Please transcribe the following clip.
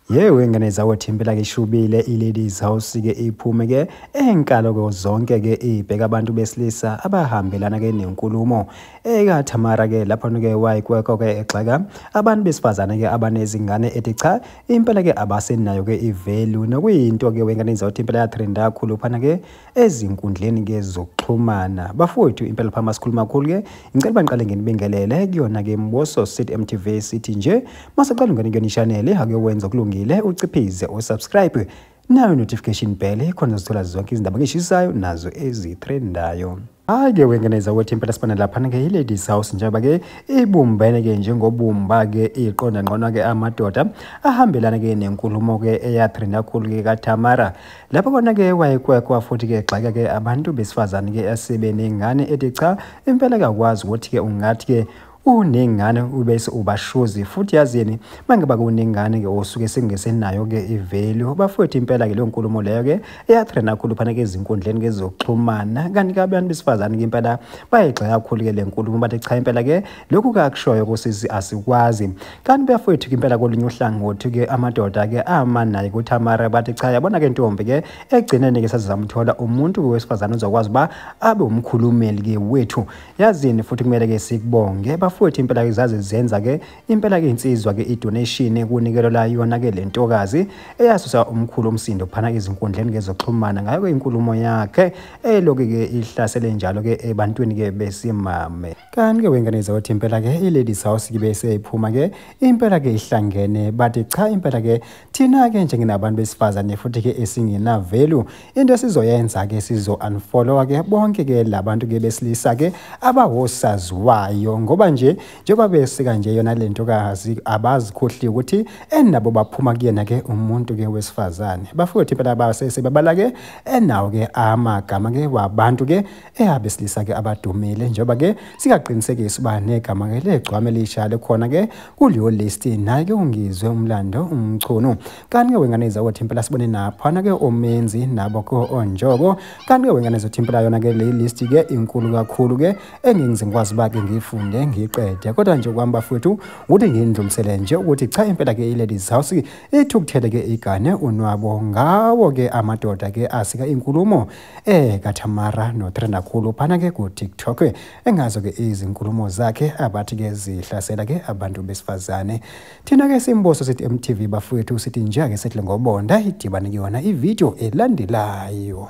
yewe ngane zawethu impela ke ishubile i-ladies house ke iphume ke enkalo ke zonke ke ibheka abantu besilisa abahambelana ke nenkulumo ekathamara ke lapho ke wayikweko ke egxeka abantu besifazane ke abanezingane ethi cha impela ke abasenayo ke ivalue nokuyinto ke wengane zawethu impela yatrenda kakhulu phana ke ezinkundleni ke zokuxhumana bafowethu impela phama sikhulu makhulu ke ngicela bangiqale ngenibingelele kuyona ke mboso sit mtv sithi nje masaqala ungene kuyona ishanele akuyowenza kulungile uciphize usubscribe nayo notification bell khona zithola zonke izindaba ngishisayo nazo ezithrendayo hayi ke wengeneza ukuthi impela sibona laphana ke i-ladies house njengoba ke ibumbene ke njengobumba ke iqonda ngqona ke amadoda ahambelana ke nenkulumo ke eyathrinakhulu ke katamara lapho kona ke wayekwekwa futhi ke gxeka ke abantu besifazane ke esebene ngane ethi cha impela kakwazi ukuthi ke ungathi ke unengane ubese ubashozi futhi yazini mangiba kunengane ke osuke singesenayo ke ivalue bafowethu impela ke leyo nkulumo leyo ke eyatrena kakhulu phana ke izinkundleni ke zokuxhumana kanti ke abantu besifazane ke impela bayigxeka kakhulu ke le nkulumo bathi cha impela ke lokhu kakushoyo kusisi asikwazi kanti bafowethu ke impela kolunye uhlangothi ke amadoda ke ama naye kuThamara bathi cha yabona ke ntombi ke egcineni ke sazamthola umuntu wesifazane uzokwazi ba abe umkhulumeli ke wethu yazini futhi kumele ke sikubonge bafowethu impela ke zaze zenza ke impela ke insizwa ke idonation kunikelo la yona ke lentokazi eyasusa umkhulu umsindo phana izinkundleni ngezoxhumana ngayo ke inkulumo yakhe eloke ke ihlasele njalo ke ebantwini ke besimame kanti ke wengane zawothi impela ke iladies house kibe seyiphuma ke impela ke ihlangene bathi cha impela ke Thina-ke nje nginabantu besifazane futhi-ke esingenavelu into esizoyenza-ke sizo-unfollowa-ke bonke-ke la bantu-ke besilisa-ke abawosaziwayo ngoba nje njengoba besika nje yona le ntokazi abazikhohliwe ukuthi enabo baphuma kuyena-ke umuntu-ke wesifazane bafowethu impela basesebabala-ke enawo-ke amagama-ke wabantu-ke eyabesilisa ke abadumile njengoba ke singaqinisekisa uba negama ke legcwame elisha lekhona ke kuleyo list naye ke ungizwe umlando umchunu kanti ke wengane izakothi impela sibone naphana ke omenzi nabo ke onjoko kanti ke wengane izothi impela yona ke le list ke inkulu kakhulu ke engingize ngikwazi uba ke ngiyifunde ngiyiqede kodwa nje kwami bafowethu ukuthi ngindlulisele nje ukuthi cha impela ke i-ladies house ithukuthele ke igane unwabo ngawo ke amadoda ke asika inkulumo Eh kaThamara notrenda khulu phana ke ku TikTok engazo ke izinkulumo zakhe abathi ke zihlasela ke abantu besifazane thina ke simboso sithi MTV bafowethu sithi nje ke sehle ngobonda idibane kuyona ivideo elandelayo